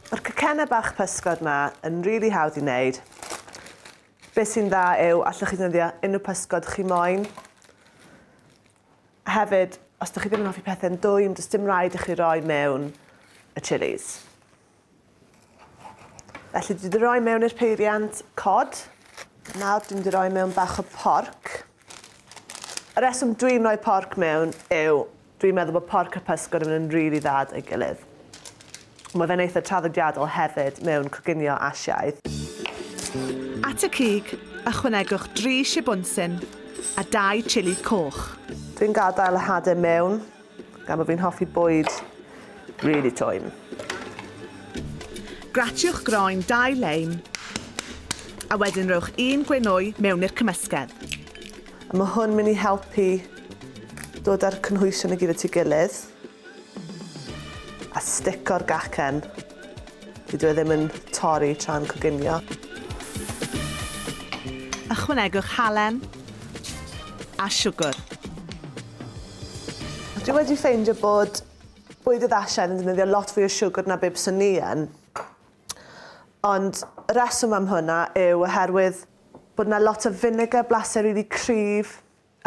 Mae'r cacennau bach pysgod ma yn really hawdd i wneud. Beth sy'n dda yw, allwch chi ddefnyddio unrhyw pysgod chi moyn. Hefyd, os ydych chi ddim yn hoffi pethau'n dwym, does dim rhaid i chi roi mewn y chilis. Felly dwi 'di roi mewn i'r peiriant cod. Nawr dwi'n di roi mewn bach o porc. Y reswm dwi'n rhoi porc mewn yw dwi'n meddwl bod porc a pysgod yn mynd yn rili dda dau gilydd. Mae fe'n eitha traddodiadol hefyd mewn coginio Asiaidd. At y cig, ychwanegwch dri shibwnsyn a dau chili coch. Dwi'n gadael y hade mewn Gan bo fi'n hoffi bwyd really twym. Gratiwch groen dau leim a wedyn rhowch un gwenwy mewn i'r cymysgedd. A ma hwn mynd i helpu dod a'r cynhwysion i gyd at ei gilydd a stico'r gacen. Dyw e ddim yn torri tra'n coginio. Ychwanegwch halen a siwgr. Dwi wedi ffeindio bod bwyd y ddasiaid yn defnyddio lot fwy o siwgr na bib sy'n ni yn. Ond y reswm am hwnna yw oherwydd bod yna lot o vinegar, blasu rili cryf,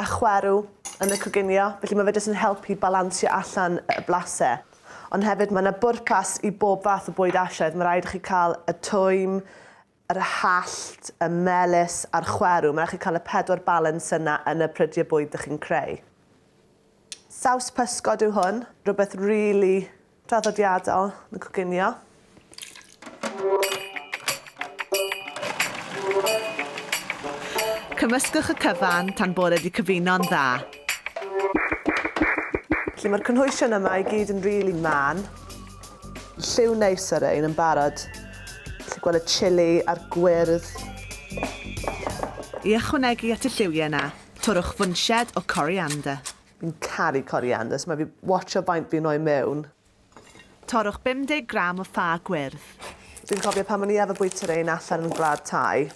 a chwerw yn y coginio, felly mae fe jyst yn helpu balansio allan y blase. Ond hefyd mae yna bwrpas i bob fath o bwyd Asiaidd, mae rhaid i chi cael y twym, yr hallt, y melys a'r chwerw, mae rhaid chi cael y pedwar balans yna yn y prydiau bwyd dych chi'n creu. Saws pysgod yw hwn, rhywbeth rili Traddodiadol yn coginio. Cymysgwch y cyfan tan bod e 'di cyfuno'n dda. Felly mae'r cynhwysion yma i gyd yn rili mân. Lliw neis ar ein yn barod. Felly gweld y chili a'r gwyrdd. I ychwanegu at y lliwiau 'na, torrwch fwnched o coriander. Fi'n caru coriander, so mae fi watsio faint fi'n rhoi mewn. Torrwch 50 gram o ffa gwyrdd. Dwi'n cofio pan o'n i efo bwyta rein allan yn Gwlad Thai,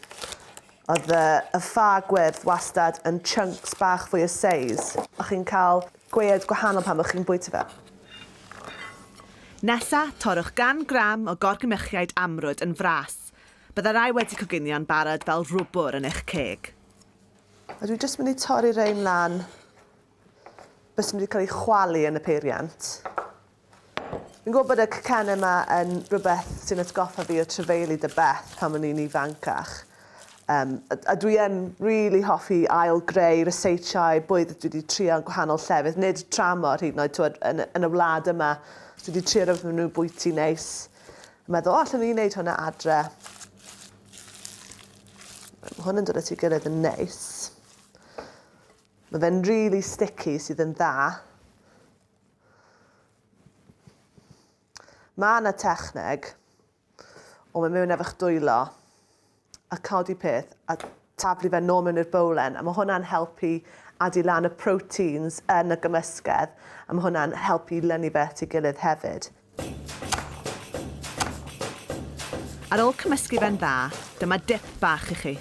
oedd y y ffa gwyrdd wastad yn chunks bach fwy o seis. O'ch chi'n cael gwead gwahanol pan o'ch chi'n bwyta fe. Nesa, torrwch gan gram o gorgmychiaid amrwd yn fras. Bydda rai wedi coginio'n barod fel rwbwr yn eich ceg. A dwi jyst mynd i torri rein lan. Beth sy'n mynd i cael ei chwalu yn y peiriant. Fi'n gwybod bod y cacennau yma yn rhywbeth sy'n atgoffa fi o trefeili dy beth pan o'n i'n ifancach. Um, a, a dwi yn rili really hoffi ail greu reseitiau, bwyd dwi wedi trio yn gwahanol llefydd, nid tramo rhyd yn oed twyd, yn, yn y wlad yma. Dwi wedi trio rhywbeth maen nhw'n bwyty neis. Meddwl, o, allan ni'n neud hwnna adre. Mae hwn yn dod at ei gilydd yn neis. Mae fe'n really sticky sydd yn dda. Mae yna techneg o mewn mewn efo dwylo a codi peth a taflu fe nôl mewn i'r bowlen a mae hwnna'n helpu adi lan y proteins yn y gymysgedd a mae hwnna'n helpu lynu fe at ei gilydd hefyd. Ar ôl cymysgu fe'n dda, dyma dip bach i chi.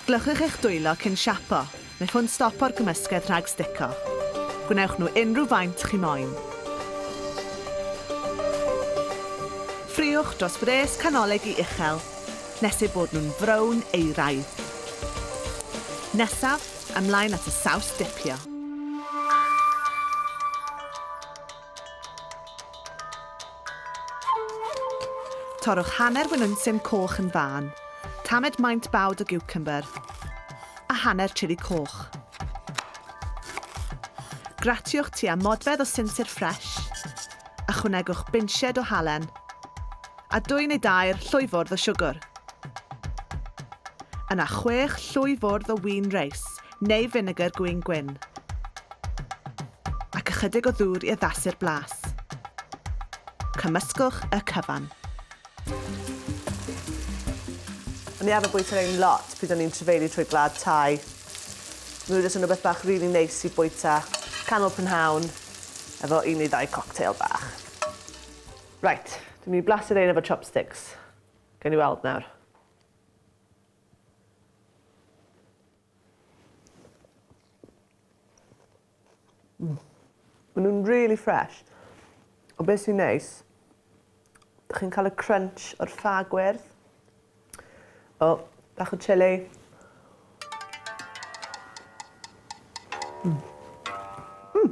Glychwch eich dwylo cyn siapo, mae hwn stopo'r gymysgedd rhag stico. Gwnewch nhw unrhyw faint chi moyn. Ffriwch dros fwres canolig i uchel nes eu bod nhw'n frown euraidd. Nesaf, ymlaen at y saws dipio. Torrwch hanner winwnsyn coch yn fân. Tamed maint bawd o giwcymbyr a hanner chili coch. Gratiwch tua modfedd o sinsir ffresh. Ychwanegwch binched o halen a dwy neu dair llwyfwrdd o siwgr. Yna chwech llwyfwrdd o win reis neu finegr gwin gwyn, ac ychydig o ddŵr i addasu'r blas. Cymysgwch y cyfan. O'n i arfer bwyta rhain lot pryd o'n i'n trefeili trwy Gwlad Thai. Mae nhw jyst yn rhywbeth bach rili neis i bwyta canol prynhawn efo un neu ddau cocktail bach. Reit, dwi'n mynd i blasu rhain efo chopsticks. Gawn ni weld nawr. Mm. Maen nhw'n really fresh. O beth sy'n neis, ydych chi'n cael y crunch o'r ffa gwerth. O, bach o chili. Mm. Mm.